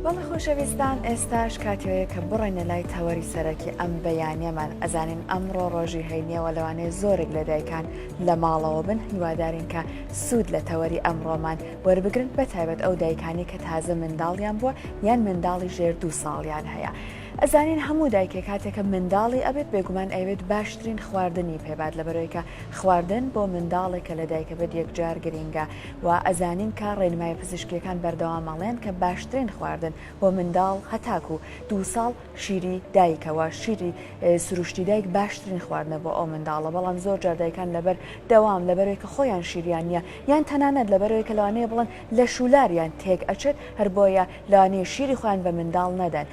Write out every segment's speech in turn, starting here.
بەڵێ خۆشەویستان ئێستاش کاتیۆیە کە بڕێنە لای تەوەری سەرەکی ئەم بەیانەمان ئەزانین ئەمڕۆ ڕۆژی هەینیەوە لەوانەیە زۆرێک لە دایکان لە ماڵەوە بن هیوادارین کە سوود لە تەوەری ئەمڕۆمان وەربگرن بە تایبەت ئەو دایکانی کە تازە منداڵیان بووە یان منداڵی ژێر دوو ساڵیان هەیە. ئەزانین هەموو دایکێک کاتێکە منداڵی ئەبێت بێگومان ئەوێت باشترین خواردنی پێبات لە بەرۆیکە خواردن بۆ منداڵێکە لە دایکە بێت یەکجار گرینگە و ئەزانین کە ڕێنمای پزیشکیەکان بەردەوام ئەڵێن کە باشترین خواردن بۆ منداڵ هەتاکو دوو ساڵ شیری دایکە وە شیری سروشتی دایک باشترین خواردنە بۆ ئەو منداڵە بەڵام زۆر جار دایکان لەبەر دەوام لەبەرەوەی کە خۆیان شیریان نیە یان تەنانەت لەبەرەوەی کە لەوانەیە بڵن لە شولاریان تێک ئەچێت هەر بۆیە لەوانەیە شیری خۆیان بە منداڵ نەدەن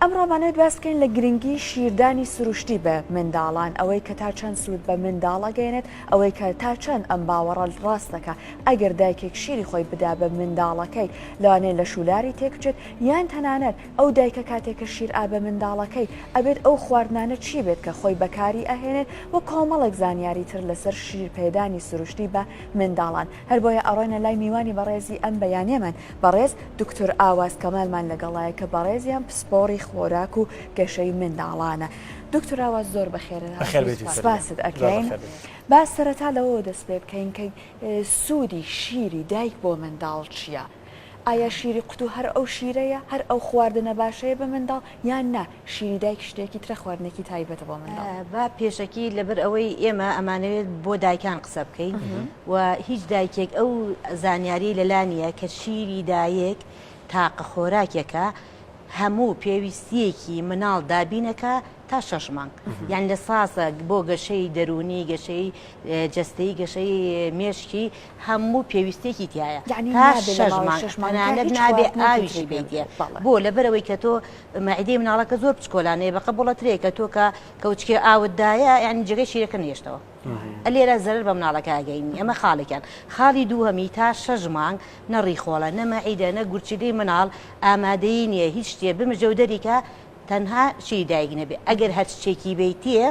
ئەمڕۆ مانەوێت باس بکەین لە گرنگی شیردانی سروشتی بە منداڵان، ئەوەی کە تا چەند سوود بە منداڵ ئەگەیەنێت، ئەوەی کە تا چەند ئەم باوەڕە ڕاست دەکا ئەگەر دایکێک شیری خۆی بدا بە منداڵەکەی لەوانەیە لەش و لاری تێک بچێت یان تەنانەت ئەو دایکە کاتێک کە شیر ئا بە منداڵەکەی ئەبێت ئەو خواردنانە چی بێت کە خۆی بەکاری ئەهێنێت و کۆمەڵێک زانیاری تر لەسەر شیر پێدانی سروشتی بە منداڵان هەر بۆیە ئەڕۆینە لای میوانی بەڕێزی ئەم بەیانیەمان بەڕێز دوکتور ئاواز کەمالمان لەگەڵایە کە بەڕێزیان پسپۆڕی خۆراک و گەشەی منداڵانە دوکتور ئاواز زۆر بەخێر هاتیت سپاست ئەکەین با سەرەتا لەوەوە دەست پێ بکەین کە سوودی شیری دایک بۆ منداڵ چیە؟ ئایا شیری قوتو هەر ئەو شیرەیە هەر ئەو خواردنە باشەیە بە منداڵ یان نا شیری دایک شتێکی ترە خواردنێکی تایبەتە بۆ منداڵ. با پێشەکی لەبەر ئەوەی ئێمە ئەمانەوێت بۆ دایکان قسە بکەین و هیچ دایکێک ئەو زانیاری لەلا نیە کە شیری دایک تاقە خۆراکێکە هەموو پێویستیەکی مناڵ دابینەکا تا شەش مانگ یان لە ساسە بۆ گەشەی دەرونی گەشەی جەستەی گەشەی مێشکی هەموو پێویستێکی تیایە یەعنی تا نابێ لە شەش ماوەی مانگ شەش مانگا تەنانەت هیچ نابێ خواردنێکی تری ئاویشی پێ بدرێ بدەیتێ بەڵێ. بۆ لەبەرئەوەی کە تۆ مەعیدەی مناڵەکە زۆر بچکۆلانەیە بە قەبوڵە ترێی کە تۆ کە کەوچکێ ئاوت دایە یەعنی جێگەی شیرەکە نەهێشتەوە ئە لێرە زەرەر بە مناڵەکە ئەگەینی ئەمە خاڵێکیان خاڵی دووهەمی تا شەش مانگ نە ڕیخۆڵە نە مەعیدە نە گورچیلەی مناڵ ئامادەی نیە هیچ شتێ بمژە و دەریکا تەنها شیری دایک نەبێ ئەگەر هەرچ چێکی بەیتێ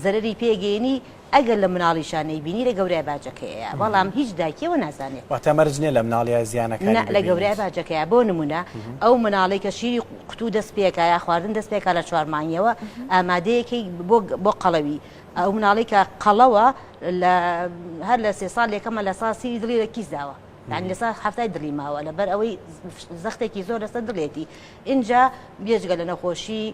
زەرەری پێ گەینی ئەگەر لە مناڵیشا نەیبینی لە گەورای باجەکەیەیە بەڵام هیچ دایکی ئەوە نازانێ. واتە مەرج نیە لە مناڵیا زیانەکانی ببینیت؟ نا لە گەورای باجەکەیە بۆ نمونە ئەو مناڵەی کە شیری قوتو دەست پێکا یا خواردن دەست پێکا لە چوار مانگیەوە ئامادەیەکەی بۆ بۆ قەڵەوی ئەو مناڵەی کە قەڵەوە لە هەر لە سێ ساڵ یەکەمە لە سا سیری دڵی لە کیس داوە یانی لە سا حەفتای دڵی ماوە لە بەر ئەوەی زەختێکی زۆر لەسە دڵێتی ئینجا بێجگە لە نەخۆشی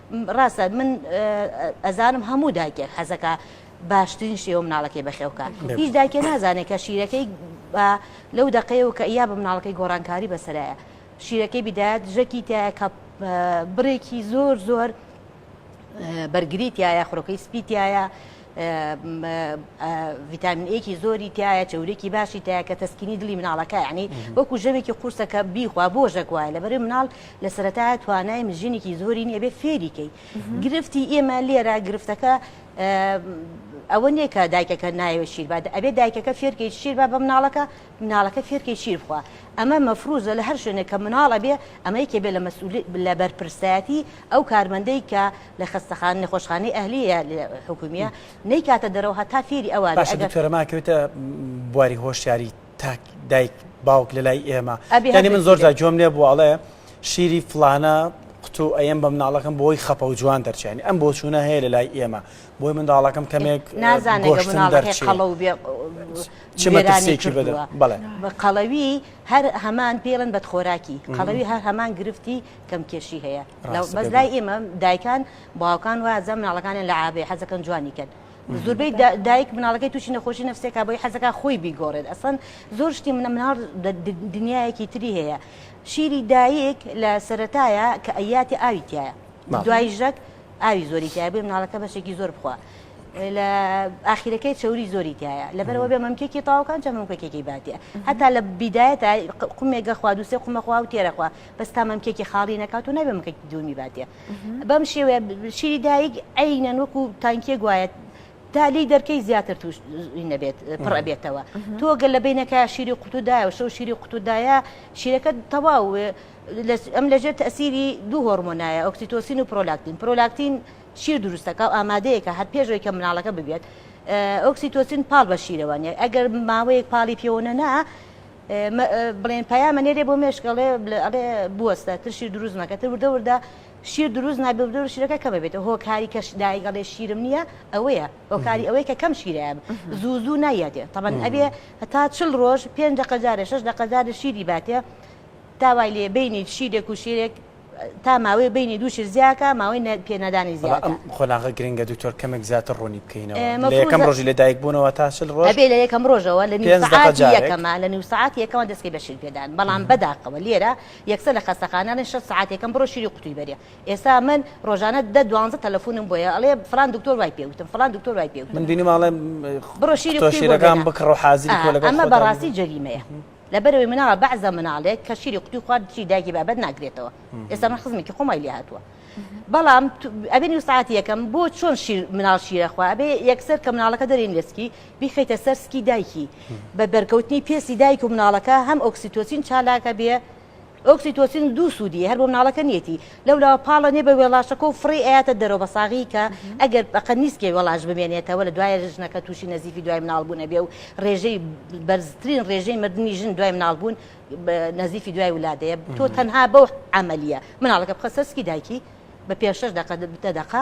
ڕاستە من ئەزانم هەموو دایکێک حەزەکە باشترین شێوە مناڵەکەی بەخێوکە هیچ دایکە نازانێت کە شیرەکەی لەو دقەیە و کە یا بە مناڵەکەی گۆڕانکاری بەسەرایە شیرەکەی بدات ژەکی تایە کە بڕێکی زۆر زۆر بەرگریتایە خڕۆکەی سپیتایە ڤیتامین ئەیکی زۆری تایە چورێکی باشی تایە کە تەسکینی دلی مناڵەکە ینی وەکو ژەمێکی قورسەکە بیخوا بۆ ژەک وایە لە بەری مناڵ لە سەرەتا توانای مژینێکی زۆری نیە بێ فێریکەی گرفتی ئێمە لێرە گرفتەکە ئەوە نییە کە دایکەکە نایوە شیربات ئەبێ دایکەکە فێرکەی شیربا بە مناڵەکە مناڵەکە فێرکەی شیر بخوا ئەمە مەفروزە لە هەر شوێنێک کە مناڵە بێ ئەمەیکێ بێ لە مەسول لە بەرپرسایەتی ئەو کارمەندەی کە لە خەستەخانە نەخۆشخانەی ئەهلیە حکومیە نەیکاتە دەرەوە هەتا فێری ئەوە باشە دکتۆرەما کەوتە بواری هۆشیاری تاک دایک باوک لە لای ئێمە ئەبی من زۆر جا جۆم لێ بوو ئەڵێ شیری فلانە قوتو ئەم بە مناڵەکەم بۆی خەپە و جوان دەرچێنی ئەم بۆچوونە هەیە لە لای ئێمە بۆی منداڵەکەم کەمێک نازانێکی بە قەڵەوی هەر هەمان پێڵن بەدخۆراکی قەڵەوی هەر هەمان گرفتی کەم کێشی هەیە بەس لای ئێمە دایکان باوکان و ئەزە مناڵەکانیان لە عابێ حەزەکەن جوانی کرد زۆربەی دایک مناڵەکەی تووشی نەخۆشی نفسێکا بۆی حەزەکە خۆی بیگۆڕێت ئەسڵەن زۆر شتی منە مناڵ دنیایەکی تری هەیە شیری دایک لە سەتایە کە ئەیاتی ئاوی تایە دوای ژەک ئاوی زۆری تای بێ مناڵەکە بەشێکی زۆر بخوا لە ئاخیرەکەی چوری زۆری تایە لەبەرەوە بێ مەمکێکی تاوکان جە مەمکەکێکی باتە هەتا لە بیدایەتە قومێگە خوا دووسێ قومەخوا و تێرەخوا بەس تا مەمکێکی خاڵی نەکاتۆ نابێ مەکەکی دووەمی باتێ بەم شێوێ شیری دایک عینەن وەکو تانکیە گوایەت تا لی دەرکەی زیاتر توش نەبێت پڕەبێتەوە تۆگە لە بینەکە شیری قوتودایە و شەو شیری قوتودایە شیرەکە تەواو ئەم لەژێر تەسیری دوو هۆرمۆنایە ئۆکسیتۆسین و پرۆلاکتین پرۆلاکتین شیر دروستەکە و ئامادەیەکە هەر پێشەوەی کە مناڵەکە ببێت ئۆکسیتۆسین پاڵ بە شیرەوانە ئەگەر ماوەیەک پاڵی پێوەە نا بڵێن پەیامە نێرێ بۆ مێشک ئەڵێ ئەڵێ بوەستە تر شیر دروست مەکە تر وردە وردە شیر دروست نابێ وردە وردە شیرەکە کەمە بێتەوە هۆکاری کە دایک ئەڵێ شیرم نییە ئەوەیە هۆکاری ئەوەیە کە کەم شیرەیە زوو زوو نایەتێ تەبەن ئەبێ هەتا چل ڕۆژ پێنج دەقە جارێ شەش دەقە جارێ شیری باتێ داوای لێ بینیت شیرێک و شیرێک تا ماوەی بینی دوو شت زیاکە ماوەی نە پێ نەدانی بەڵا زیادە. ئەم قۆناغە گرنگە دکتۆر کەمێک زیاتر ڕوونی بکەینەوە ئێ لە یەکەم مەفروزە ڕۆژی لە دایک بوونەوە تا چل ڕۆژ ئەبێ لە یەکەم ڕۆژەوە لە نیو پێنج دەقە سەعاتی جارێک. یەکەما لە نیو سەعاتی یەکەما دەسکەی بە شیر پێدان بەڵام بە داخەوە لێرە یەکسەر لە خەستەخانە نەن شەست سەعاتی یەکەم بڕۆ شیری قوتووی بەرێ ئێستا من ڕۆژانە دە دوانزە تەلەفوونم بۆیە ئەڵێ فڵان دکتۆر وای پێ وتن فڵان دکتۆر وای پێ من وتن بینیمە ئەڵێ بڕۆ شیری قوتووی بۆ بێنە ئەمە بەڕاستی جەریمەیە. لەبەرئەوەی مناڵە بەعزە مناڵێک کە شیری قوتی خوارد دژی دایکی بابەت ناگرێتەوە ئێستا من خزمێکی خۆمای لێ هاتووە بەڵام ئەبێ نیو ساعت یەکەم بۆ چۆن شیر مناڵ شیرەخوا ئەبێ یەکسەر کە مناڵەکە دەرین لەسکی بیخیتە سەر سکی دایکی بە بەرکەوتنی پێسی دایک و مناڵەکە هەم ئۆکسیتۆسین چالاکە بێ ئۆکسیتۆسین دوو سوودی هەر بۆ مناڵەکە نیەتی لەولاوە پاڵە نێ بە وێڵاشەکە و فڕی ئەیاتە دەرەوە بە ساغی کە ئەگەر بەقە نیسکێ وێڵاش بمێنێتەوە لە دوایە ژنەکە تووشی نەزیفی دوای مناڵ بوون ئەبێ و ڕێژەی بەرزترین ڕێژەی مردنی ژن دوای مناڵ بوون نەزیفی دوای ولادەیە تۆ تەنها بەو عملیە مناڵەکە بخە سەرسکی دایکی بە پێ شش دقە دە دقە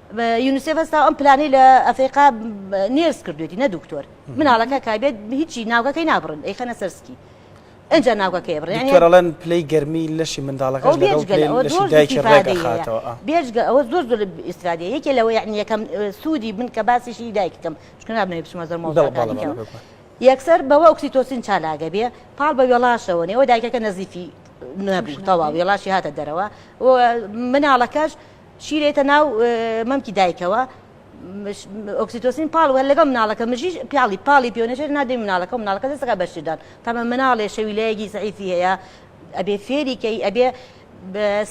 یونسێف هەستا ئەم پلانەی لە ئەفریقا نێرس کردوێتی نە دکتۆر مناڵەکە کابێت هیچی ناوگەکەی نابڕن ئەی خەنە سەرسکی ئەجا ناوگەکەی بڕێنڵەن پلەی گەرمی لەشی منداڵەکە بێژگە ئەوە زۆر زۆر ئیسرادە یەکێ لەوە یعنی یەکەم سوودی من کە باسیشی دایکەکەم چکە نابێ بچمە زەر مۆڵەکەەوە یەکسەر بەوە ئۆکسیتۆسین چالاگە بێ پاڵ بە وێڵاشەوە نێوە دایکەکە نەزیفی نەبوو تەواو وێڵاشی هاتە دەرەوە مناڵەکەش شیرێتە ناو مەمکی دایکەوە ئۆکسیتۆسین پاڵ وە لەگەڵ مناڵەکە مژی پیاڵی پاڵی پێونەژێت نادەی مناڵەکە و مناڵەکە دەستەکە بەشدان تەمە مناڵێ شەویلەیەکی زعیفی هەیە ئەبێ فێریکەی ئەبێ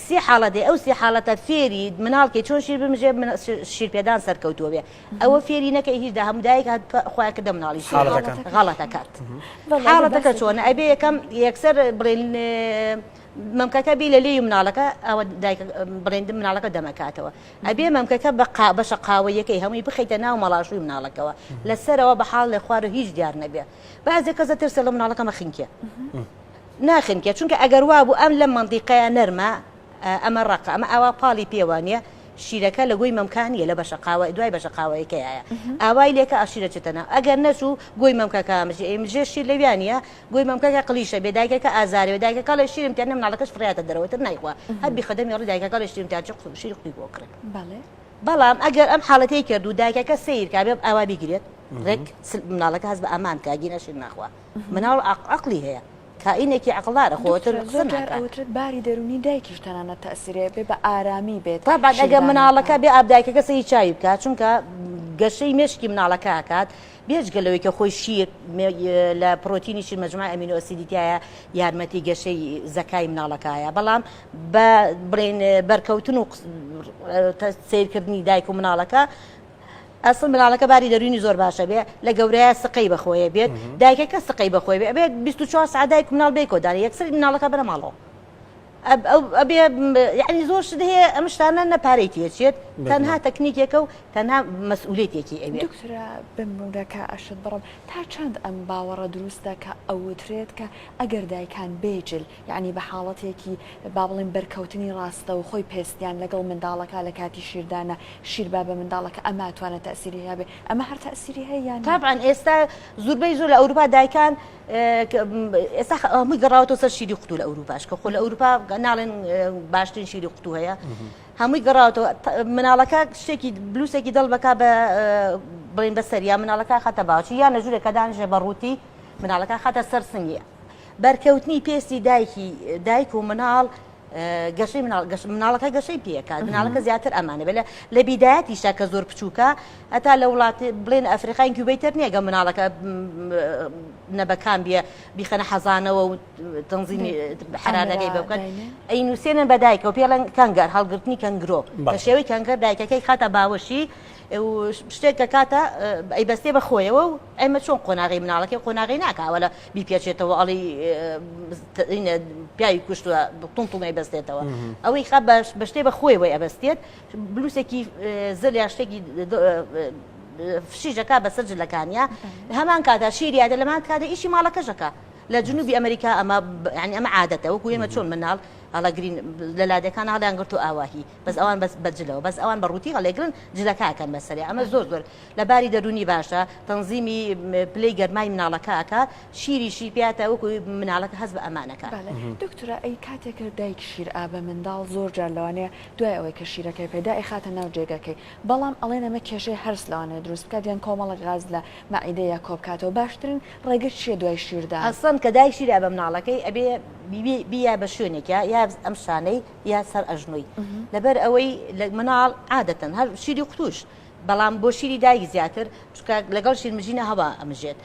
سێ حاڵە دێ ئەو سێ حاڵەتە فێری مناڵکەی چۆن شیر بمژێ شیرپێدان سەرکەوتووە بێ ئەوە فێری نەکە هیچ دا هەمودایک خۆیان کردە مناڵی غەڵەتەکات حاڵەتەکە چۆنە ئەبێ یەکەم یەکسەر بڵێن مەمکەکە بی لە لێی و مناڵەکە ئەوە دایکە بڕێندم مناڵەکە دەمەکاتەوە ئەبێ مەمکەکە بە قا بەشە قاوەیەکەی هەمووی بخیتە ناو مەڵاشوی مناڵەکەەوە لە سەرەوە بە حاڵ لە خوارە هیچ دیار نەبێ بازێک کەزە ترسە لە مناڵەکەمە خنکێ ناخنکێ چونکە ئەگەر وا بوو ئەم لە مندیقەیە نەرمە ئەمە ڕقە ئەمە ئاوا پاڵی پێوانە شیرەکە لە گۆی مەمکانیە لە بەشە قاوە دوای بەشە قاوەیەکەیە ئاوای لێکە ئاشیرە چتەنا ئەگەر نەچوو گۆی مەمکەکە مژێ مژێ شیر لەویانە گوی مەمکەکە قلیشە بێ دایکەکە ئازارێ دایکە کاڵێ شیرم تیان مناڵەکەش فریاتە دەرەوە تر نایخوا هەر بیخە دەمی ڕی دایکە کاڵێ شیرم تیان چ قسە شیر قوی بۆ کڕێ بەڵێ بەڵام ئەگەر ئەم حاڵەتی کرد و دایکەکە سیر کا بێ ئاوا بیگرێت ڕێک مناڵەکە هەز بە ئامان کا گینە شیر ناخوا مناڵ عقلی هەیە کائینێکی عقلدارە خۆتر قسە ناکات ئەوترێت باری دەرونی دایکیش تەنانەت تەسیرێ بێ بە ئارامی بێت تابان ئەگەر مناڵەکە بێ ئاب دایکەکە سەری چاوی بکات چونکە گەشەی مێشکی مناڵەکە کات بێجگە لەوەی کە خۆی شیر لە پرۆتینی شیر مەجموعە ئەمینۆ ئەسیدی تایە یارمەتی گەشەی زەکای مناڵەکایە بەڵام بە بڵێن بەرکەوتن و سیرکردنی دایک و مناڵەکە ئەسڵ مناڵەکە باری دەروینی زۆر باشە بێ لە گەورەیە سقەی بەخۆیە بێت دایکەکە سقەی بەخۆی بێت 24 سعدایک مناڵ بێ کۆداری یەکسری مناڵەکە بەرەماڵەوە ئەبێ یعنی زۆر شت هەیە ئەم شتانە نە پارەی تێچێت تەنها تەکنیکێکە و تەنها مەسئولێتێکی ئەوێ دکترا بمونەکە ئەشت بڕم تا چەند ئەم باوەڕە دروستە کە ئەوترێت کە ئەگەر دایکان بێجل یعنی بە حاڵەتێکی با بڵێن بەرکەوتنی ڕاستەوخۆی پێستیان لەگەڵ منداڵەکە لە کاتی شیردانە شیر با بە منداڵەکە ئەماتوانێت تەئسیری هەبێت ئەمە هەر تەئسیری هەیە یان نا؟ تابعەن ئێستا زوربەی زۆر لە ئەوروپا دایکان ئێستا هەمووی گەڕاوەوە سەر شیری قوتو لە ئەوروپاش کە خۆ لە ئەوروپا ناڵێن باشترین شیری قوتو هەیە هەمووی گەڕاوەوە مناڵەکە شتێکی بلووسێکی دڵ بک بە بڵین بە سەریا مناڵەکە خەتە باوچی یان لە ژورێکە دانژێ بە ڕووتی مناڵەکە خەتە سەر سنگە بەرکەوتنی پێستی دایکی دایک و مناڵ گەشەی مناڵ مناڵەکە گەشەی پێکە مناڵەکە زیاتر ئەمانە بێ لە بیدایەتیشا کە زۆر بچووکە هەتا لە وڵاتی بڵێن ئەفریقای کوبیتر نییەگە مناڵەکە نەبەکان بیە بیخەنە حەزانەوە و تەنزیمی حرانەکەی بکەن ئەی نووسێنە بەدایکەوە پێڵەن کەنگەر هەڵگرتنی کەنگرۆ بە شێوەی کەنگەر دایکەکەی خاتە باوەشی شتێک کە کاتە ئەی بەستێ بە خۆیەوە و ئەمە چۆن قۆناغی مناڵەکەی قۆناغی ناکاوە لە بیپێچێتەوە ئەڵی پیاوی کوشتوە تون تون ئەیبەستێتەوە ئەوەی خە بەش بەشتێ بە خۆی وی ئەبەستێت بلوسێکی زل یا شتێکی فشیژەکە بەسەر جلەکانیا هەمان کادا شیریادە لەمان کادە ئیشی ماڵەکەشەکە لە جنوبی ئەمریکا ئەمە ینی ئەمە عادەتە وەکو ئێمە چۆن مناڵ هەڵەگرین لە لادەکان هەڵیان گرت و ئاواهی بەس ئەوان بەس بەجلەوە بەس ئەوان بە ڕووتی هەڵێگرن جلەکەکەن بەسەری ئەمە زۆر زۆر لە باری دەروونی باشە، تەنزیمی پلەی گەرمای مناڵەکە ئەکا، شیری شی پێ ئەتا وەکو مناڵەکە هەست بە ئەمان ئەکا. بەڵێ دکتۆرە ئەی کاتێک دایک شیر ئا بە منداڵ زۆر جار لەوانەیە دوای ئەوەی کە شیرەکەی پێ دا ئەیخاتە ناو جێگەکەی بەڵام ئەڵێن ئەمە کێشەی هەرس لەوانەیە دروست بکات یان کۆمەڵێک غاز لە مەعیدە یا کۆبکاتەوە باشترین ڕێگە چیە دوای شیر دان؟ ئەسڵەن کە دایک شیر ئا بە مناڵەکەی ئەبێ بی یا بە شوێنێکیا یا ئەم شانەی یا سەر ئەژنۆی لەبەر ئەوەی لە مناڵ عادەتەن هەر شیری قوتوش بەڵام بۆ شیری دایک زیاتر چکە لەگەڵ شیرمژینە هەوا ئەمژێت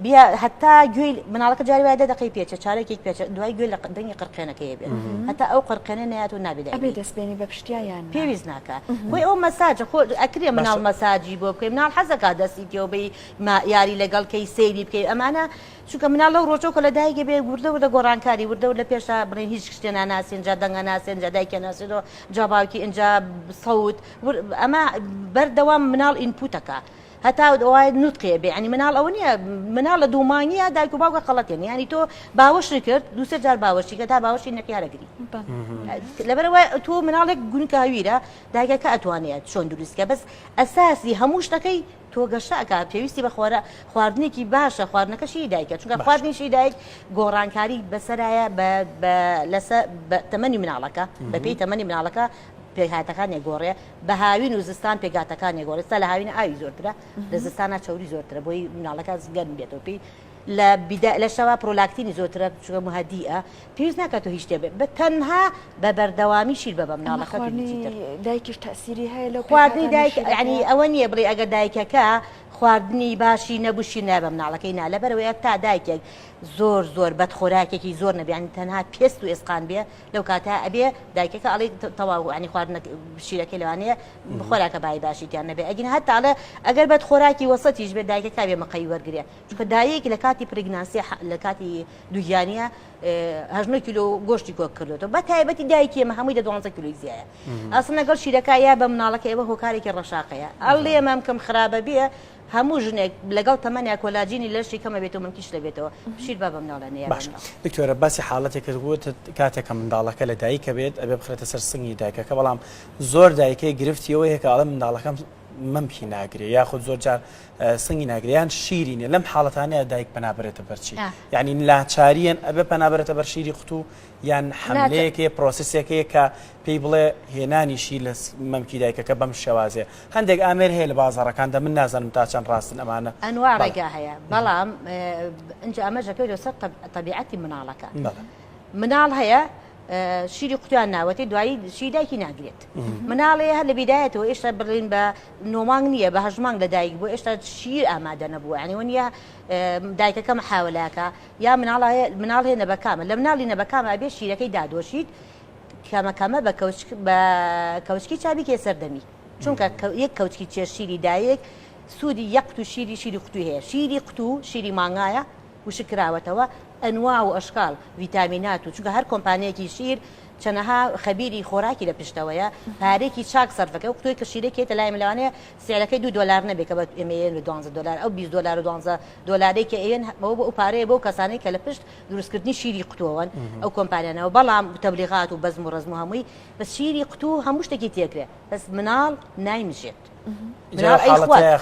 بیا هەتا گوێی مناڵەکە جاری وایە دەقی پێچە چارێکی پێچە دوای گوێ لە دەنگی قڕقێنەکەی بێت هەتا ئەو قڕقێنە نات و نابێت دەستبێنی بە پشتیان پێویست ناکە بۆی ئەو مەساجە خۆ ئەکرێ مناڵ مەساجی بۆ بکەین مناڵ حەزەکە دەستی تێوبەی ما یاری لەگەڵ کەی سەیری بکەی ئەمانە چونکە مناڵ لەو ڕۆژۆ کە لە دایگە بێ وردە وردە گۆڕانکاری وردە لە پێشا بڵێن هیچ شتێ ناناسیێنجا دەنگە ناسێنجا دایکە ناسێنەوە جا باوکی ئەجا سەوت ئەمە بەر دەوام مناڵ ئینپوتەکە هەتا وایە نوتقێ بێ ینی مناڵ ئەوە نیە مناڵ لە دوومانگیە دایک و باوکە قەڵەتێن ینی تۆ باوەشی کرد دووسێ جار باوەشی کە تا باوەشی نەخیارەگری لەبەرەوە تۆ مناڵێک گونکە هەویرە دایکەکە ئەتوانێت چۆن دروستکە بەس ئەساسی هەموو شتەکەی تۆ گەشەکە پێویستی بە خوارە خواردنێکی باشە خواردنەکەشی دایکە چونکە خواردنیشی دایک گۆڕانکاری بەسەرایە لەسە تەمەنی مناڵەکە بەپی تەمەنی مناڵەکە پێکهاتەکان ئەگۆڕێ بە هاوین و زستان پێکاتەکان گۆڕێ ستا لە هاوینە ئاوی زۆرترە لە زستانە چوری زۆرترە بۆی مناڵەکان گەرم بێتەوە پێی لە بیدا لە شەوا پرۆلاکتینی زۆرترە چگە مهدیە پێویست ناکات و هیچ دەبێت بە تەنها بە بەردەوامی شیر بە بەم ناڵەکە دایکیش تاسیری هەیە لە خواردنی دایک ینی ئەوە نییە بڵێ ئەگە دایکەکە خواردنی باشی نەبووشی نای بەم ناڵەکەی نا لەبەرەوەی تا دایکێک زۆر زۆر بەدخۆراکێکی زۆر نەبیانی تەنها پێست و ئێسقان بێ لەو کاتە ئەبێ دایکەکە ئەڵێ تەواو عنی خواردنە شیرەکەی لەوانەیە خۆراکە بای باشیتیان نەبێ ئەگین هەتا ئەڵێ ئەگەر بەد خۆراکی وەسەتیش بێ دایکە کاوێ مەقەی وەرگێ چونکە دایک لە کاتی پرگناسیە لە کاتی دوگیانە هەژنە کیلو گۆشتی کۆک کردێتەوە بە تایبەتی دایکی ئمە هەمووی دە دوانزە کیلوی زیایە ئەسن لەگەڵ شیرەکە یا بە مناڵەکە ئێوە هۆکارێکی ڕەشاقەیە ئەڵێ مەمکەم خراپە بێ هەموو ژنێک لەگەڵ تەمەنیا کۆلاجینی لەشی کەمە بێت و ملکیش لەبێتەوە پشیل با بە مناڵە نەیە باشە دکتۆرە باسی حاڵەتێک کرد وتت کاتێک کە منداڵەکە لە دایکە بێت ئەبێ بخرێتە سەر سنگی دایکەکە بەڵام زۆر دایکەی گرفتی ئەوە هەیە کە ئەڵێ منداڵەکەم مەمکی ناگرێ یاخود زۆر جار سنگی ناگرێ یان شیری نیە لەم حاڵەتانەیە دایک پەنابرێتە بەرچی یعنی ناچاریان ئەبێ پەنابرێتە بەر شیری قوتو یان حملەیەکێ پرۆسسێکەیە کە پێی بڵێ هێنانیشی لە مەمکی دایکەکە بەم شێوازێ هەندێک ئامێر هەیە لە بازاڕەکاندا من نازانم تا چەند ڕاستن ئەمانە. ئەنواع ڕێگا هەیە بەڵام ئینجا ئەمەش دەکەوێت لەسەر تەبیعەتی مناڵەکە. مناڵ هەیە شیری قوتیان ناوەتی دوایی شی دایکی ناگرێت مناڵێ هەر لە بیدایەتەوە ئێشتا بڕین بە نۆمانگ نییە بە هەژمانگ لە دایک بۆ ئێشتا شیر ئامادە نەبووە ینیوە نیە دایکەکەم حاولاکە یا مناڵ مناڵێ نەبەکامە لە مناڵی نەبەکامە بێ شیرەکەی دادۆشیت کەمە کەمە بە بە کەوچکی چا بیکێ سەردەمی چونکە یەک کەوچکی چێ شیری دایک سوودی یەقت و شیری شیری قوتوی هەیە شیری قوت و شیری مانگایە وشکراوەتەوە ئەنوا و ئەشکال ڤیتامینات و چونکە هەر کۆمپانیەکی شیر چەنەها خەبیری خۆراکی لە پشتەوەیە پارێکی چاک سەرفەکە و قوتوی کە شیرەکێتە لای ملاوانەیە سعرەکەی دو دلار نەبێ کە بە ئێمەیە لە دوانزە دلار ئەو 20 دلار و دوانزە دلاریکە ئێن بەوە بۆ ئەو پارەیە بۆ کەسانی کە لە پشت دروستکردنی شیری قوتوەوەن ئەو کۆمپانیانەوە بەڵام تەبلیغات و بەزم و ڕزم و هەمووی بە شیری قوتو هەموو شتێکی تێکرێ بەس مناڵ نایمژێت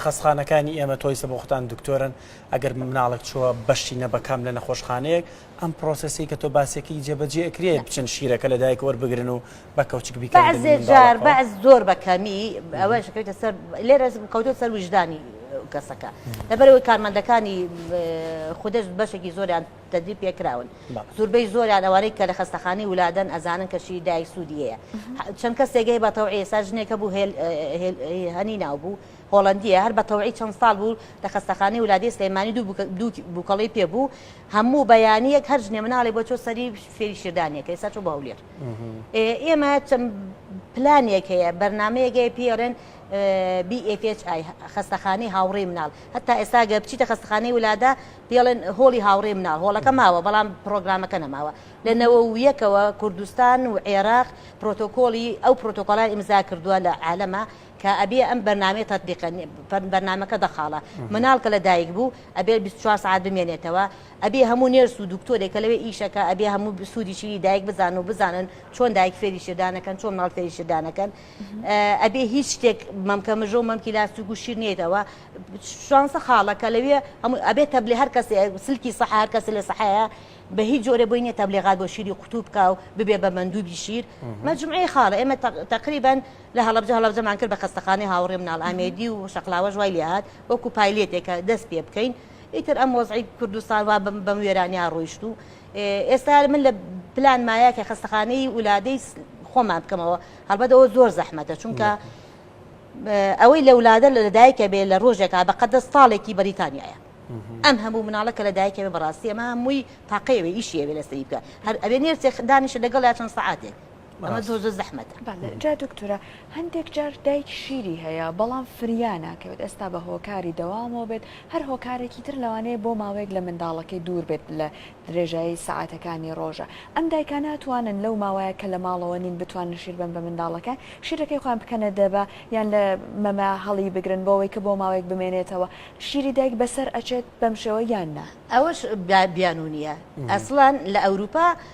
خەستخانەکانی ئێمە تۆیسە بۆ خۆتان دکتۆرن ئەگەر مناڵک چووە بەشی نەبەکەم لە نەخۆشخانەیەک ئەم پرۆسسی کە تۆ باسێکی جێبەجێکرێت بچن شیرەکە لە دایک وەربگرن و بە کەوچک بیکەن بەعزێ دەبینن جار باوەکەوە. بەعز زۆر بە کەمی ئەوەش دەکەوێتە سەر لێرەش کەوتوە سەر ویژدانی کەسەکە لەبەرەوەی کارمەندەکانی خودەش بەشێکی زۆریان تەدوی پێکراون بەڵێ. زوربەی زۆریان ئەوانەی کە لە خەستەخانەی ولادەن ئەزانن کە شیری دایک سوودی هەیە چەند کەسێک هەیە بە تەوعیە سا ژنێکە بوو هێل هێل هەنی ناو بوو هۆڵندیە هەر بە تەوعی چەند ساڵ بوو لە خەستەخانەی ولادی سلێمانی دوو بووکە- دوو بووکەڵی پێ بوو هەموو بەیانیەک هەر ژنێ مناڵێ بۆ چۆ سەری فێری شیردانیەکە ئێستا چۆ بۆ هەولێر ئێمە چەند پلانێک هەیە بەرنمەیەک هەیە پیڕێن BFHI خستەخانەی هاوڕێ مناڵ هەتا ئێستا گە بچیتە خستخانەی ولادا پێڵێن هۆڵی هاوڕێ مناڵ هۆڵەکە ماوە بەڵام پرۆگرامەکە نەماوە لە نەوە و یەکەوە کوردستان و عێراق پرۆتۆکۆلی ئەو پرۆتۆکۆلای ئیمزا کردووە لە عالەمە کە ئەبێ ئەم بەرنامەی تطببیقە بەرنامەکە دەخاڵە مناڵ کە لە دایک بوو ئەبێ 24 سعات بمێنێتەوە ئەبێ هەموو نێرس و دکتۆرێک کە لەوێ ئیش ئەکا ئەبێ هەموو سوودی شیری دایک بزانن و بزانن چۆن دایک فێری شیردان ئەکەن چۆن ماڵ فێری شیردان ئەکەن ئەبێ هیچ شتێک مەمکە مژە و مەمکی لاستیک و شیر نێیتەوە شانسە خاڵە کە لەوێ هەموو ئەبێ تەبلێ هەر کەسێ سلکی سەح هەر کەسێ لە سەحەیە بە هیچ جۆرە بۆی نییە تەبلێغات بۆ شیری قوتوو بکا و ببێ بە مەندوبی شیر مەجموعەی خاڵە ئێمە تقریبا لە هەڵەبجە هەڵەبجەمان کرد بە خەستەخانەی هاوڕێ مناڵ ئامێدی و شەقلاوەش وای لێ هات وەکو پایلێتێک کە دەست پێ بکەین ئیتر ئەم وەزعی کوردستان وا بەم وێرانیا ڕۆیشت و ئێستا من لە پلان مایە کە خەستەخانەی ولادەی خۆمان بکەمەوە هەڵبەت ئەوە زۆر زەحمەتە چونکە ئەوەی لە ولادە لە لەدایکە بێ لە ڕۆژێکا بە قەدە ساڵێکی بەریتانیایە ئەم هەموو مناڵە کە لەدایکەوێ بەڕاستی ئەمە هەمووی تاقەیەوێ ئیشیەوێ لەسەری بکە هەر ئەوێ نێرسێ دانیشە لەگەڵ یا چەند سەعاتێک ئەمە زۆزە زەحمەتە. بەڵێ جا دکتورە هەندێک جار دایک شیری هەیە بەڵام فریا ناکەوێت ئێستا بە هۆکاری دەوامەوە بێت هەر هۆکارێکی تر لەوانەیە بۆ ماوەیەک لە منداڵەکەی دوور بێت لە درێژایی سەعاتەکانی ڕۆژە ئەم دایکان ناتوانن لەو ماوەیە کە لە ماڵەوە نین بتوانن شیر بەن بە منداڵەکان شیرەکەی خۆیان بکەنە دەبە یان لە مەمە هەڵی بگرن بۆ ئەوەی کە بۆ ماوەیەک بمێنێتەوە شیری دایک بەسەر ئەچێت بەم شێوە یان نا. ئەوەش بیانوو نییە ئەسڵەن لە ئەوروپا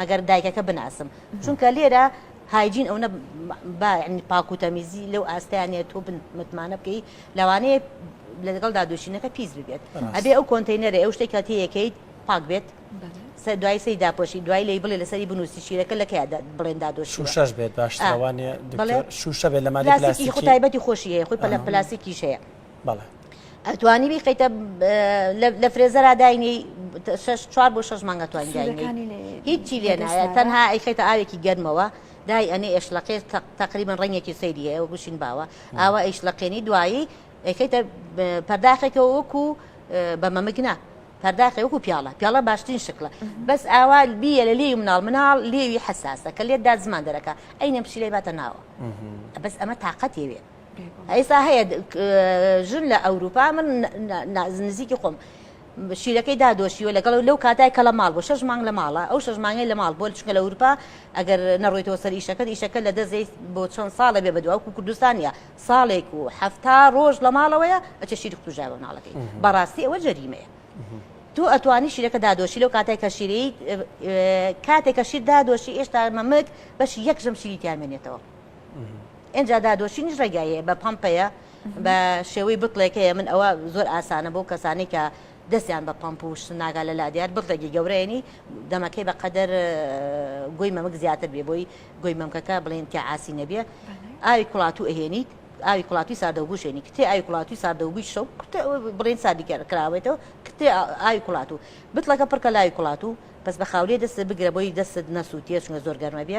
مەگەر دایکەکە بناسم چونکە لێرە هایجین ئەونە با یعنی پاک و تەمیزی لەو ئاستەیان نیە تۆ بن متمانە بکەی لەوانەیە لەگەڵدا دۆشینەکە پیس ببێت بەڕاست. ئەبێ ئەو کۆنتینەرە ئەو شتێکە تێیەکەیت پاک بێت بەڵێ. سە دوای سەری داپۆشی دوای لێی بڵێ لەسەری بنووسی شیرەکە لە کەیە دا بڵێن دادۆشیوە شوشەش بێت باشترە آه. وانیە بەڵێ دکتۆر شوشە بێت لە مادەی پلاستیکی پلاستیکی خۆ تایبەتی خۆشی هەیە خۆی پەلە آه. پلاستیکیش هەیە بەڵێ ئەتوانی بیقیتە لە فرێزەرا داینی چوار بۆ شش مانگە توانین داینی هیچی لێ نایە تەنها ئەیخێتە ئاوێکی گەرمەوە دای ئەنێ ئێشلەقێ تقریبان ڕنگێکی سەیری هەیە گوشین باوە ئاوا ئەیشلەقێنی دوایی ئەیخیتە پەرداخێکە وەکو بە مەمکنە پەرداخی وەکو پیاڵە پیاڵە باشترین شکلە بەس ئاوا بیە لە لێوی مناڵ مناڵ لێوی حساسە کە لێتدا زمان دەرەکە ئەینە پشیلەی باتە ناوە بەس ئەمە تااقەت یەوێت ئێستا هەیە ژن لە ئەوروپا من نزیکی خۆم شیرەکەی دادۆشیوە لەگەڵ لەو کاتای کە لە ماڵ بۆ شش مانگ لە ماڵە ئەو شش مانگی لە ماڵ بۆ چکە لە ئەوروپا ئەگەر نەڕۆیتەوە سەر ئیشەکەت ئیشەکە لە دەزێت بۆ چەند ساڵە بێ بەدواوکو کوردستانە ساڵێک و هەفتا ڕۆژ لە ماڵەوەیە ئەچە شیر کوژای بە مناڵەکەی بەڕاستی ئەوە جەریمەیە تۆ ئەتوانی شیرەکە دادۆشی لەو کاتای کە شیرەی کاتێک کە شیر دادۆشی ئێشتا مەمک بەش یەک ژەم شیری تیامێنێتەوە ئینجا دادۆشینیش ڕێگای هەیە بە پەمپەیە بە شێوەی بتڵێک هەیە من ئەوە زۆر ئاسانە بۆ کەسانی کە دەستیان بە پەمپ و شت ناگا لە لادیار بتڵێکی گەورەێنی دەمەکەی بە قەدەر گۆی مەمک زیاتر بێ بۆی گۆی مەمکەکە بڵێن کە ئاسی نەبێ ئاوی کوڵاتو ئەهێنیت ئاوی کوڵاتی ساردەوگوشێنی کتێ ئاوی کوڵاتی ساردەوگوی شەو بڵێن سادیکەر کراوێتەوە کتێ ئاوی کوڵات و بتڵەکە پڕکە لای کوڵات و بەس بە خاولێ دەست بگرە بۆی دەست نەسووتێ چونە زۆر گەرمە بێ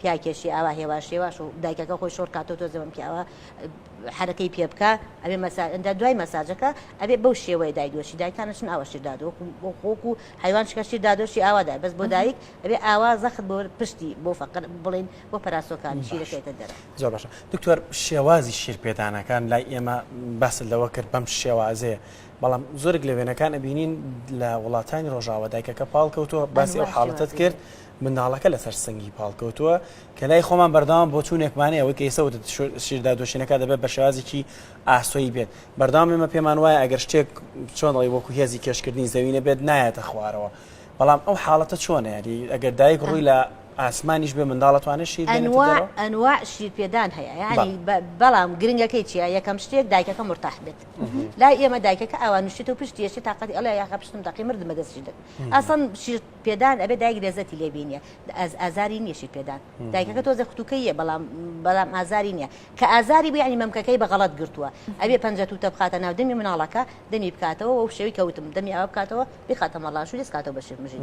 پیاکێشی ئاوا هێواش هێواش و دایکەکە خۆی شۆڕ کاتەوە تۆزێ بەم پیاوە حەرەکەی پێ بکا ئەبێ مەساج ئەنجا دوای مەساجەکە ئەبێ بەو شێوەیە دای دۆشی دایکان ئەچن ئاوا شیر دادۆ وەکو بۆ خۆک و حەیوان شکە شیر دادۆشی ئاوا دای بەس بۆ دایک ئەبێ ئاوا زەخت بۆ پشتی بۆ فەقر بڵێین بۆ پەراسۆکانی شیر باش دەکەوێتە دەرەوە. زۆر باشە دکتۆر شێوازی شیر پێدانەکان لای ئێمە باست لەوە کرد بەم شێوازەیە بەڵام زۆرێک لە وێنەکان ئەبینین لە وڵاتانی ڕۆژاوا دایکەکە پاڵکەوتووە باسی ئەو ئەنواع حاڵەتت شێوازی کرد هەیە. منداڵەکە لەسەر سنگی پاڵکەوتووە، کە لای خۆمان بەردەوام بۆچوونێکمان هەیە، ئەوەی کە ئێستا وتت، شیر دادۆشینەکە دەبێت بە شێوازێکی ئاسۆیی بێت، بەردەوام ئێمە پێمان وایە ئەگەر شتێک چۆن دەڵێی وەکو هێزی کێشکردنی زەوی نەبێت نایەتە خوارەوە، بەڵام ئەو حاڵەتە چۆنە یانی ئەگەر دایک ڕووی لە ئاسمانیش بێ منداڵ ئەتوانێت شیر بێنێتە دەرەوە؟ ئەنواع ئەنواع شیرپێدان هەیە یانی بە بەڵام گرنگەکەی چییە یەکەم شتێک دایکەکە مورتاح بێت لای ئێمە دایکەکە ئاوا نوشتێتەوە پشتی ئێشێ تاقەتی ئەڵێ یاخە پشتم دەقی مردمە دەست شیردەک ئەسڵەن شیر پێدان ئەبێ دایک لەزەتی لێ بینێ ئازاری نیە شیر پێدان دایکەکە تۆزێ ختوکەیە بەڵام بەڵام ئازاری نیە کە ئازاری بە ینی مەمکەکەی بە غەڵت گرتووە ئەبێ پەنجە توتە بخاتە ناو دەمی مناڵەکە دەمی بکاتەوە و شێوی کەوتم دەمی ئەوە بکاتەوە بخاتە مەڵاش و دەستکاتەوە بە شیر مژین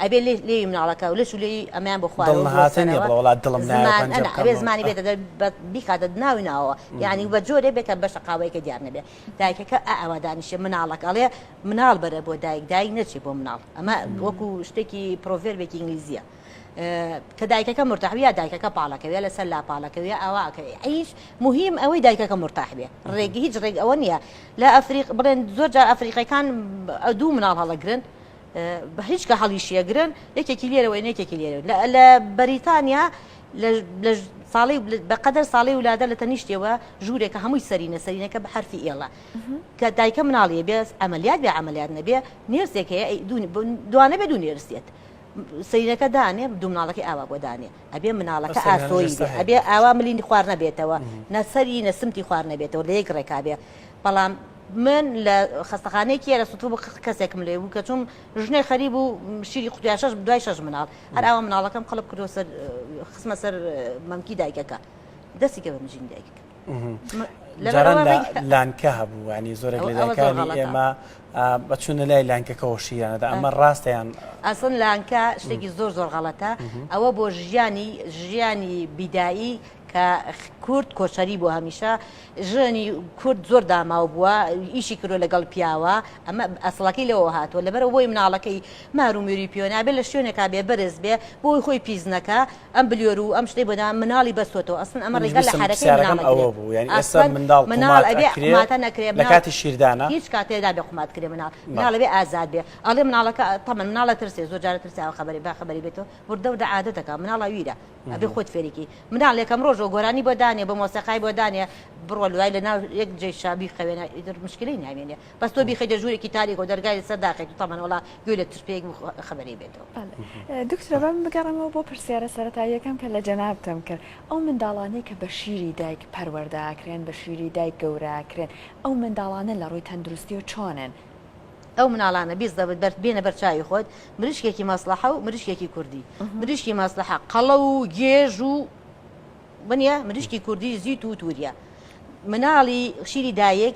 ئەبێ لێ لێ مناڵەکە و لەش و لێ ئەمیان بۆ خوارەوەڵاتدڵمانێ زمانی بێتە بیکاتە ناوی ناوە ینی بە جۆرێ بێتە بەشە قاوەیەکە دیار نەبێ دایکەکە ئاوا دانیشێ مناڵەکە ئەڵێ مناڵ بەرە بۆ دایک دایک نەچێ بۆ مناڵ ئەمە وەکو شتێکی پرۆڤێربێکی ئینگلیزیە کە دایکەکە مرتاحوی یا دایکەکە پاڵەکەوێ لەسەر لا پاڵەکەوێ ئاواکە ئەیش مهم ئەوەی دایکەکە مرتاحبێ ڕێک هیچ ڕێک ئەوە نییە لە ئەفریق بڵێن زۆر جار ئەفریقیەکان دوو مناڵ هەڵەگرن بەهیچ کە هەڵیشیەگرن یەکێکی لێرەوە یەکێکی لێرەوە لە بەریتانیا ساڵی بەقەدەر ساڵی ولادە لە تەنیشتەوە ژوورێکە هەمووی سەرینە سەرینەکە بە حرفی ئێڵە کە دایکە مناڵیە بێت ئەمەلیات بێ ئەمەلیات نەبێ نێرسێک هەیە دوانە بێ دوو نێرسێت سەرینەکە دانێ دوو مناڵەکە ئاوا بۆ دانێ ئەبێ مناڵەکە ئاسۆی ئەبێ ئاوا ملین خوار نەبێتەوە نەسەری نەسمتی خوار نەبێتەوە لە یەک ڕێکابێ بەڵام من لە خەستەخانەیەکی یەرە سوتر بوو کەسێکم لێ بوو کە چوم ژنێ خەری بوو شیری قوتیا شەش دوای شەش مناڵ هەر ئاوا مناڵەکەم قەڵب کردو سەر خسمە سەر مەمکی دایکەکە دەستی کە بە مژین دایکەکە لانکە هەبوو ینی زۆرێک لەکانی ئێمە بەچوونە لای لانکەکەەوە شیرانەدا ئەمە ڕاستیان ئەسن لانکە شتێکی زۆر زۆر غەڵەتە ئەوە بۆ ژیانی ژیانی بیدایی کە کورد کۆچەری بووە هەمیشە ژنی کورد زۆر داماو بووە ئیشی کردوە لەگەڵ پیاوە ئەمە ئەسڵەکەی لەوەوە هاتووە لەبەرە بۆی مناڵەکەی مار و مێروی پێوە نابێ لە شوێنێکا بێ بەرز بێ بۆی خۆی پیس نەکا ئەم بلیۆر و ئەم شتەی بۆ دا مناڵی بەستۆتەوە ئەسڵەن ئەمە ڕێگا لە حەرەکەی مناڵ نەگرێ ئەسڵەن مناڵ ئەبێ قوماتە نەکرێ لە کاتی شیردانە هیچ کاتێ نابێ قومات کرێ مناڵ مناڵ ئەبێ ئازاد بێ ئەڵێ مناڵەکە تەمەن مناڵ ئەترسێ زۆر جار ئەترسێ ئەوە خەبەری با خەبەری بێتەوە وردە وردە عادەتەکە مناڵ هەویرە ئەبێ خۆت فێریکی مناڵ یەکەم ڕۆژەوە گۆرانی بۆ دانێ بە مۆسەقای بۆ دانێ بڕۆ لوای لە ناو یەک جێ شابی خەوێنە ئیدر مشکلی ناوێنێ بەس تۆ بیخی دە ژوورێکی تاریک و دەرگای سەر داخێت و تەمەنەوەڵا گوێ لە ترپێک خەبەری بێتەوە دکتۆرە بەم بگەڕێمەوە بۆ پرسیارە سەرەتاییەکەم کە لە جەنابتم کرد ئەو منداڵانەی کە بە شیری دایک پەروەردە ئەکرێن بە شیری دایک گەورە ئەکرێن ئەو منداڵانە لە ڕووی تەندروستی و چۆنن؟ ئەو مناڵانە بیست دەبت بەرد بێنە بەرچوی خۆت مریشکێکی مەسلحە و مریشکێکی کوردی مریشکی مەسلحە قەڵە و گێژ و بنە مریشکی کوردی زیت و تووریە مناڵی شیری دایک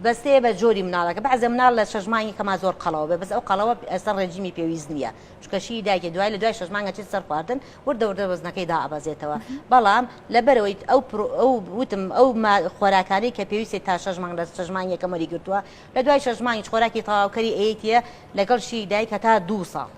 بەستێ بە جۆری مناڵەکە بەعزە مناڵ لە شەژمانی کەما زۆر قەڵەوە بێ بەس ئەو قەڵەوە ئەسەر ڕێجیمی پێویست نییە چکەشی داگە دوای لە دوای شەژمانگە چێت سەر خواردن وردە وردە وەزنەکەی دابەزێتەوە بەڵام لەبەرەوەی ئەو وتم ئەو خۆراکانی کە پێویستی تا شەژمان لە شەژمان یەکەمەری گرتووە لە دوای شەش مانگیش خۆراکی تەواوکەری ئەیەیتیە لەگەڵ شیری دایک هەتا دوو ساڵ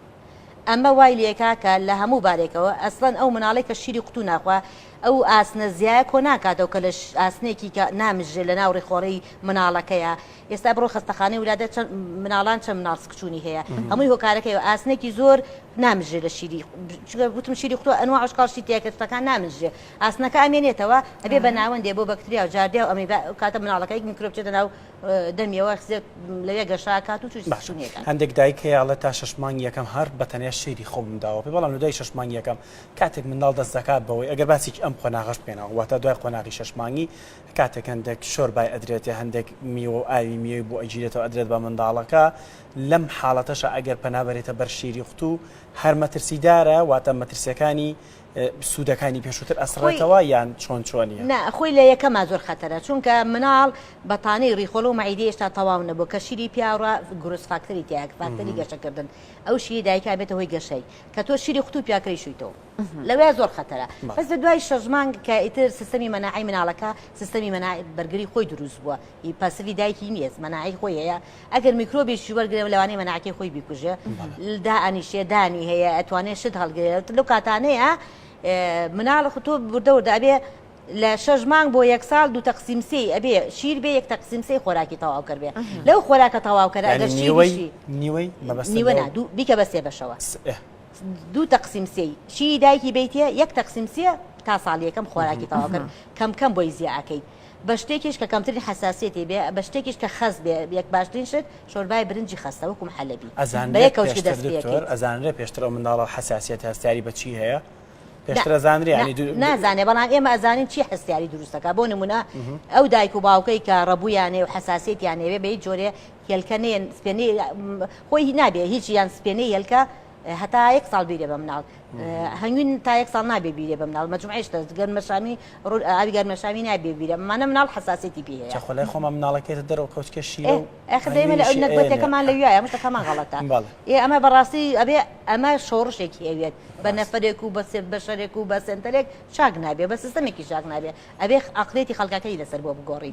ئەمە وای لێکا کە لە هەموو بارێکەوە ئەسڵەن ئەو مناڵەی کە شیری قوتوو ناخوا ئەو ئاسنە زیایە کۆ ناکاتەوە کە لە ئاسنێکی کە نامژرێ لە ناو ڕیخۆڵی مناڵەکەیە ئێستا بڕۆ خەستەخانەی ولادە چەند مناڵان چەند مناڵ سکچوونی هەیە هەمووی هۆکارەکەی ئاسنێکی زۆر نامژرێ لە شیری چگە گوتم شیری قوتوو ئەنوا عشقال شی تێکە شتەکان نامژرێ ئاسنەکە ئەمێنێتەوە ئەبێ بە ناوەندێ بۆ بەکتریا و جاردیا و ئەمیبا کاتە مناڵەکەی میکرۆب چێتە ناو دەمیەوە لەوێ گەشە کات و چشتونیەکە هەندێک دایک هەیە ئەڵێ تا شش مانگ یەکەم هەر بەتەنێ شیری خۆ منداوە پێ بەڵام لە دوای شش مانگ یەکەم کاتێک منداڵ دەست دەکات بەوەی ئەگەر باسێکی ئەم قۆناغەش بکەینەوە واتە دوای قۆناغی شش مانگی کاتێک هەندێک شۆر بای ئەدرێتێ هەندێک میوە و ئاوی میوەی بۆ ئەگیرێتەوە ئەدرێت بە منداڵەکە لەم حاڵەتەشە ئەگەر پەنابەرێتە بەر شیری قوتو هەر مەترسیدارە واتە مەترسیەکانی سوودەکانی پێشووتر ئەسڕێتەوە یان چۆن چۆنی نا خۆی لە یەکەما زۆر خەتەرە چونکە مناڵ بەتانەی ڕیخۆڵ و مەعیدی هێشتا تەواو نەبوو کە شیری پیاڕە گرس فاکتەری تیاک فاکتەری گەشەکردن ئەو شیری دایکا بێتە هۆی گەشەی کە تۆ شیری خوتو پیاکەی شویتەوە لەوێ زۆر خەتەرە بەس لە دوای شەژمانگ کە ئیتر سیستەمی مەناعی مناڵەکە سیستەمی مەنا بەرگری خۆی دروست بووە ئی پاسوی دایکی نییە مەناعی خۆی هەیە ئەگەر میکرۆبێکی وەرگێ لەوانەیە مەناعەتی خۆی بیکوژێ دائنیشێ دانی هەیە ئەتوانێت شت هەڵگرێت لەو کاتانەیە مناڵ خۆ تۆ بردەوردە ئەبێ لە شەش مانگ بۆ یەک ساڵ دوو تەقسیمسی ئەبێ شیر بێ یەک تەقسیمسی خۆراکی تەواو کردێ لەو خۆراکە تەواو کە ئەگەر شیوەی نیوەی بیکە بە سێ بەشەوە دوو تەقسیم سێ چی دایکی بیتە یەک تەقسیم سێ تا ساڵیەکەم خۆراکی تەواوکرد کەم کەم بۆی زیاکەیت بە شتێکیش کە کەمترین حەساسیەتی بێ بە شتێکیش کە خەست بێ یەک باشترین شت شۆربای برنجی خەستە وەکو محەلەبی بە یەک کەوچک دەست پێ ئەکەیت. ئەزانرێت پێشتر ئەو منداڵە حەساسیەتی هەستیاری بە چی هەیە؟ پێشتر ئەزانرێ یانی دو. نا نازانێ بەڵام ئێمە ئەزانین چی هەستیاری دروست دەکا بۆ نمونە ئەو دایک و باوکەی کە ڕەبوویان هەیە و حەساسیەتیان هەیە بێ بە هیچ جۆرێ هێلکە نێن سپێنەی خۆی نابێ هیچ یان سپێنەی هێلکە هەتا یەک ساڵ بیرێ بە مناڵ هەنگوین تا یەک ساڵ نابێ بیرێ بە مناڵ مەجموعێشتە گەر مەشامی ڕوو ئاوی گەر مەشامی نابێ بیرە مانە مناڵ حساسێتی پێ هەیە خۆلای خۆمە مناڵەکەێتە دەرەوە کەوتکە شیرە ئەخدەێمە لە نەگوتەکەمان لە وایە مشتەکەمان غڵەتە ئێ ئەمە بەڕاستی ئەبێ ئەمە شۆڕشێکی ئەوێت بە نەفرێک و بەسێ بەشەرێک و بە سنتەرێک چاک نابێ بە سیستمێکی چاک نابێ ئەبێ ئەقلێتی خەڵکەکەی لەسەر بۆ بگۆڕی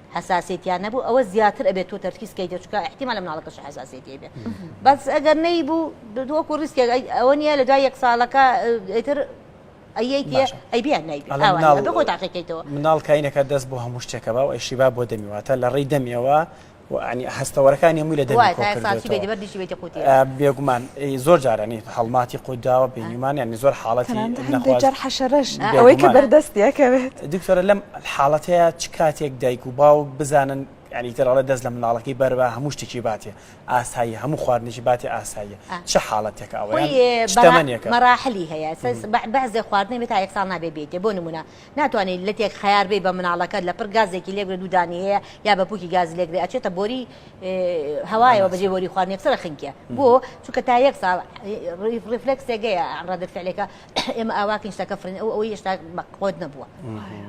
حەساسێتیان نەبوو ئەوە زیاتر ئەبێت تۆ تەرکیز کەیتە چکە احتیمال لە مناڵەکەش حەساسێتی بێ بەس ئەگەر نەی بوو دۆکو ریسکێک ئەوە نیە لە دوای یەک ساڵەکە ئیتر ئەیبیانەوە تاقیکەیتەوە مناڵ کاینەکە دەست بۆ هەموو شتێکە باو ئەشیبا بۆ دەمیواتە لە ڕێی دەمیەوە عنی هەستەوەرەکان هەمووی لە بێگومان زۆر جارانی هەڵماتی قوداوە بینیمان ینی زۆر حاڵەتی حەشەرش ئەوەی کە بەردەستیەکەوێت دکتۆرە لەم حاڵەتەیە چ کاتێک دایک و باوک بزانن یانی تر ئەڵێ دەست لە منداڵەکەی بەربا هەموو شتێکی باتێ ئاساییە هەموو خواردنێکی باتێ ئاساییە چ حاڵەتێکە ئەوەیان چ تەمەنێکە؟ مەراحلی هەیە بەعزێ خواردنێ بێ تا یەک ساڵ نابێ بێتێ بۆ نموونە ناتوانانی لەتێک خەیار بێی بە مناڵەکەت لە پڕ گازێکی لێک بێ دوودانی هەیە یا بە پووکی گاز لێک بێ ئەچێتە بۆری هەوایەوە بەجێ بۆری خواردنێک سەرە خنکێ بۆ چونکە تا یەک ساڵ ڕیفلکسێک هەیە ڕەدە فعلەکە ئێمە ئاواکەین شتەکە فرێن ئەو ئەوەی هێشتا بەقۆت نەبووە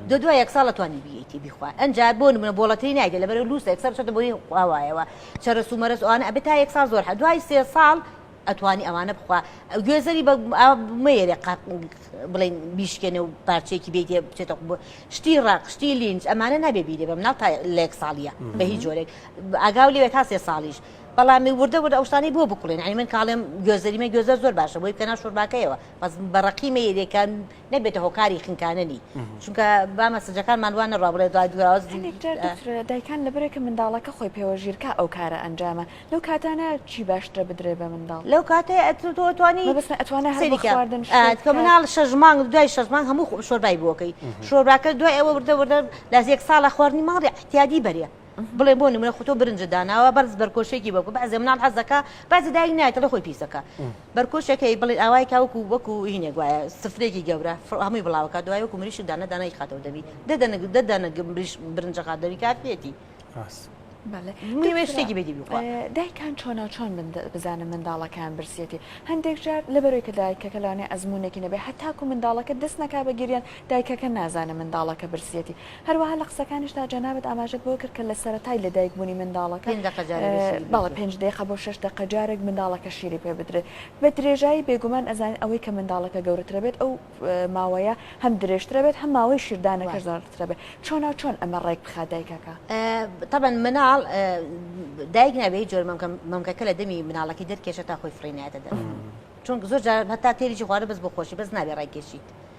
دو دوای یەک ساڵە توانی بیەتی بیخوا ئەجا بۆ منە بۆڵەتری نایدە لەبەر لووس یەکسەر چێتە بۆی قاوایەوە چرە سومەرەس ئەوانە ئەبێت تا یەک ساڵ زۆر هە دوای سێ ساڵ ئەتوانی ئەوانە بخوا گوێزەری بە مەیەێ قاق بڵین بیشکێنە و پارچێکی بێت بچێتە بۆ شتی ڕق شتی لینج ئەمانە نابێ بیرێ بە مناڵ تا لێک ساڵیە بە هیچ جۆرێک ئاگاو لێوێت تا سێ ساڵیش بەڵام وردە وردە ئەوشتانەی بۆ بکڵێن ئەی من کاڵێم گوێزەریمە گوێزەر زۆر باشە بۆی کەنا شورباکەیەوە بەس بەڕقی مەیرێکان نەبێتە هۆکاری خنکاننی چونکە بامە سجەکانمان وان نەڕوا بڵێ دوای دوراز دایکان لەبرێکە منداڵەکە خۆی پێوە ژیرکە ئەو کارە ئەنجامە لەو کاتانە چی باشترە بدرێ بە منداڵ لەو کاتێ ئەتوانی بەس ئەتوانە هەردن کە مناڵ شەژمانگ دوای شەژمان هەموو شۆربای بۆکەی شۆرباکە دوای ئەوە وردە وردە لە زێک ساڵە خواردنی ماڵی احتیادی بەرێ بڵێ بۆ نمونە خۆ تۆ برنجت داناوە بەرز بەرکۆشێکی بەکو بەعزێ مناڵ حەز دەکا بەعزێ دایک نایەت دەڵێ خۆی پیس دەکا بەرکۆشێک هەیە بڵێ ئاوای کا وەکو وەکو هینێک وایە سفرێکی گەورە فڕ هەمووی بڵاوە کات دوای وەکو مریشک دانە دانەی خاتەوە دەمی دە دەنە دە دەنە مریش برنجە خات دەمی کافیەتی بەڵێ مهمە شتێکی بێتی بخوا دایکان چۆنا چۆن من دە- بزانن منداڵەکەیان برسیەتی هەندێک جار لەبەرەوەی کە دایکەکە لەوانەیە ئەزموونێکی نەبێ هەتاکو منداڵەکە دەست نەکا بە گریان دایکەکە نازانێ منداڵەکە برسیەتی هەروەها لە قسەکانیشدا جەنابت ئاماژەت بەوە کرد کە لە سەرەتای لەدایک بوونی منداڵەکە پێنج دەقە جارێ بێ شیری بەڵێ پێنج دەقە بۆ شەش دەقە جارێک منداڵەکە شیری پێ بدرێت بە درێژایی بێگومان ئەزانین ئەوەی کە منداڵەکە گەورەترە بێت ئەو ماوەیە هەم درێژترە بێت هەم ماوەی شیردانەکەش زاڵترە بێت چۆنا چۆن ئەمە ڕێک بخات دایکەکە طبعا مناڵ دایک نابێ هیچ جۆر مەمکە مەمکەکە لە دەمی مناڵەکەی دەرکێشە تا خۆی فڕینایەتە دەر چونکە زۆر جار هەتا تێریی خوارە بەس بۆ خۆشی بەس نابێ ڕێکێشیت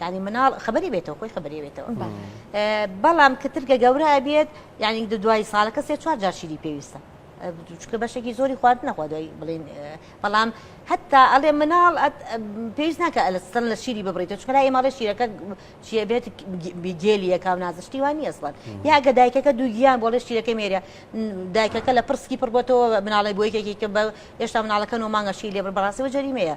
یانی مناڵ خبری بێتەوە خۆی خبری بێتەوە بەڵام کە ترگە گەورە بێت یانی دوای ساڵەکە سێ چوار جار شیری پێویستە چکە بەشێکی زۆری خوارد نەخوا دوای بڵین بەڵام هەتا ئەڵێ مناڵ پێویست ناکە ئەلە سن لە شیری ببڕیتە چکە لای ماڵێ شیرەکە چیە بێت گێلیەکە و نازشتی وانی ئەسڵەن یاگە دایکەکە دووگیان بۆ لە شیرەکە مێرە دایکەکە لە پرسکی پڕبەتەوە مناڵی بۆ یەکێکی کە بە هێشتا مناڵەکە و مانگەشی لێ بەڕاستی و جەریمەیە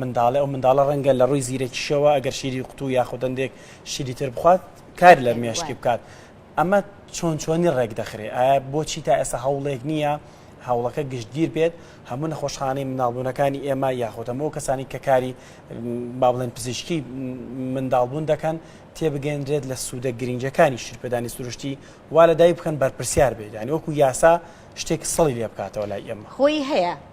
منداڵێ، ئەو منداڵە ڕەنگە لە ڕووی زیرەکیشەوە ئەگەر شیری قوتوو یاخود هەندێک شیری تر بخوات کار لە مێشکی بکات. ئەمە چۆن چۆنی ڕێک دەخرێ؟ ئایا بۆچی تا ئێستا هەوڵێک نییە هەوڵەکە گشتگیر بێت؟ هەموو نەخۆشخانەی منداڵبوونەکانی ئێمە یاخود هەموو ئەو کەسانی کە کاری با بڵێن پزیشکی منداڵبوون دەکەن تێبگەیەنرێت لە سوودە گرنگەکانی شیرپێدانی سروشتی وا لە دایک بکەن بەرپرسیار بێت یانی وەکو یاسا شتێک سڵی لێ بکاتەوە لای ئێمە. خۆی هەیە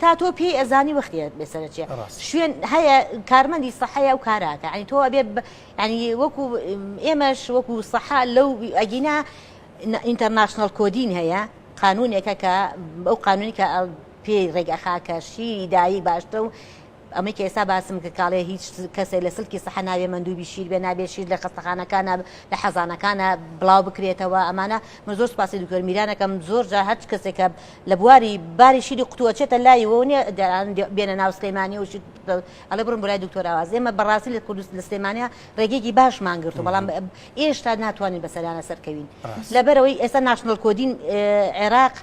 تا تۆ پێی ئەزانی وەختی بێ سەرە چێ شوێن هەیە کارمەندی سەحەیە و کاراکە ئەنی تۆ بێ ینی وەکو ئێمەش وەکو سەحا لەو ئەگینا ئینتەرناشنل کۆدین هەیە قانونێکە کە بەو قانونی کە پێی ڕێگەخاکە شیری دایی باشتە و ئەمەی کە ئێستا باسم کرد کاڵێ هیچ کەسێ لە سلکی سەحە نابێ مەندوبی شیر بێ نابێ شیر لە خەستەخانەکانە لە حەزانەکانە بڵاو بکرێتەوە ئەمانە من زۆر سپاسی دکتۆر میرانەکەم زۆر جا هەچ کەسێکە لە بواری باری شیری قوتووە چێتە لای و نیە دەیان بێنە ناو سلەیمانی و ئەڵێ بڕم بۆ لای دکتۆر ئاواز ئێمە بەڕاستی لە کوردست لە سلێمانیا ڕێگەیەکی باشمان گرت و بەڵام ئێشتا ناتوانین بەسەرانە سەرکەوین لەبەرەوەی ئێستا ناشنڵ کۆدین عێراق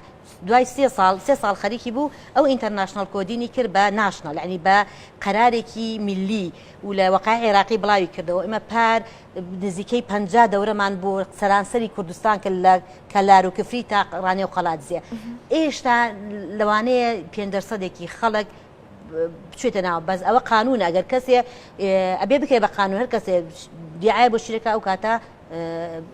دوای سێ ساڵ سێ ساڵ خەریکی بوو ئەو ئینتەرناشناڵ کۆدینی کرد بە ناشناڵ یەعنی بە قەرارێکی میللی و لە وەقای عێراقی بڵاوی کردەوە ئێمە پار نزیکەی پەنجا دەورەمان بۆ سەرانسەری کوردستان کرد لە کەلار و کفری تا ڕانێ و قەلادزێ ئێشتا لەوانەیە پێنج دەرسەدێکی خەڵک بچێتە ناوە بەس ئەوە قانونە ئەگەر کەسێ ئەبێ بکرێ بە قانون هەر کەسێ دیعاە بۆ شیرەکە ئەو کاتە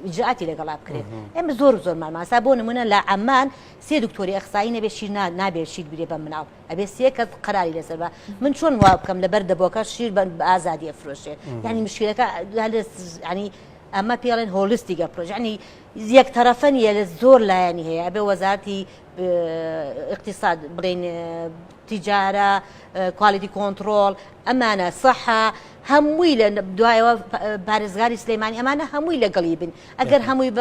ئیجراتی لەگەڵا بکرێت ئێمە زۆر زۆر ماماسا بۆ نمونە لە ئەمان سێ دکتۆری ئەخسایی نەبێت شیر نابێت شیر برێ بە مناڵ ئەبێ سێ کەس قراری لەسەر بە من چۆن وا بکەم لەبەر دەبۆکە شیر بە ئازادی ئەفرۆشێ ینی مشکلەکە ینی ئەمە پێڵێن هۆلستیگە پرۆژانی یەک تەرەفەن یە لە زۆر لایەنی هەیە ئەبێ وەزارتی اقتصاد بڵێن تجارە، کوالیتی کۆنتڕۆڵ، ئەمانە، سەحە، هەمووی لە دوایەوە پارێزگاری سلێمانی ئەمانە هەمووی لەگەڵی بن ئەگەر هەمووی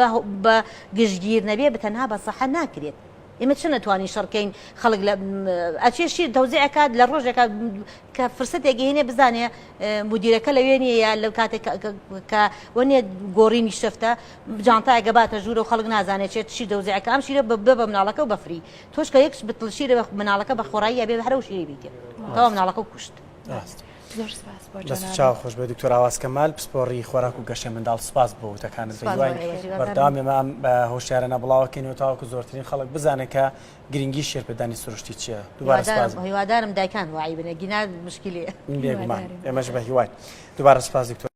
بە گشتگیر نەبێ بتەنها بە سەحە ناکرێت. ئێمە چ نەتوانین شەڕکەین خەڵک لە ئەچێشی دەوزەکات لە ڕۆژێکە کە فرسەتێکی هێنێ بزانێ مدیرەکە لەوێ نیە لەو کاتێک کە وەنێ گۆڕینی شەفتە جانتایگە باتە ژوورە و خەڵک نازانێت چێت شی دەوزەکە ئەم شیرە بە بە مناڵەکە و بەفری تۆش کە یەک بتڵ شیرە بە مناڵەکە بە خۆڕایی ئەبێ هەرەو شیری بیتێ تەوا مناڵەکە و کوشت چاو خۆش بێ دکتۆر ئاواسکە مال پسپۆڕی خۆراک و گەشە منداڵ سپاس بۆ وتەکانت بەردام ئێمەم بە هۆشیارە نەبڵاوەکەین و تاوەکو زۆرترین خەڵک بزانێت کە گرنگی شێرپدانی سروشتی چیە دوبارەهیوادارم دایکان وعی بنە گینا مشکلی ئێمەش بە هیوای دوبارە سپاس دکتۆر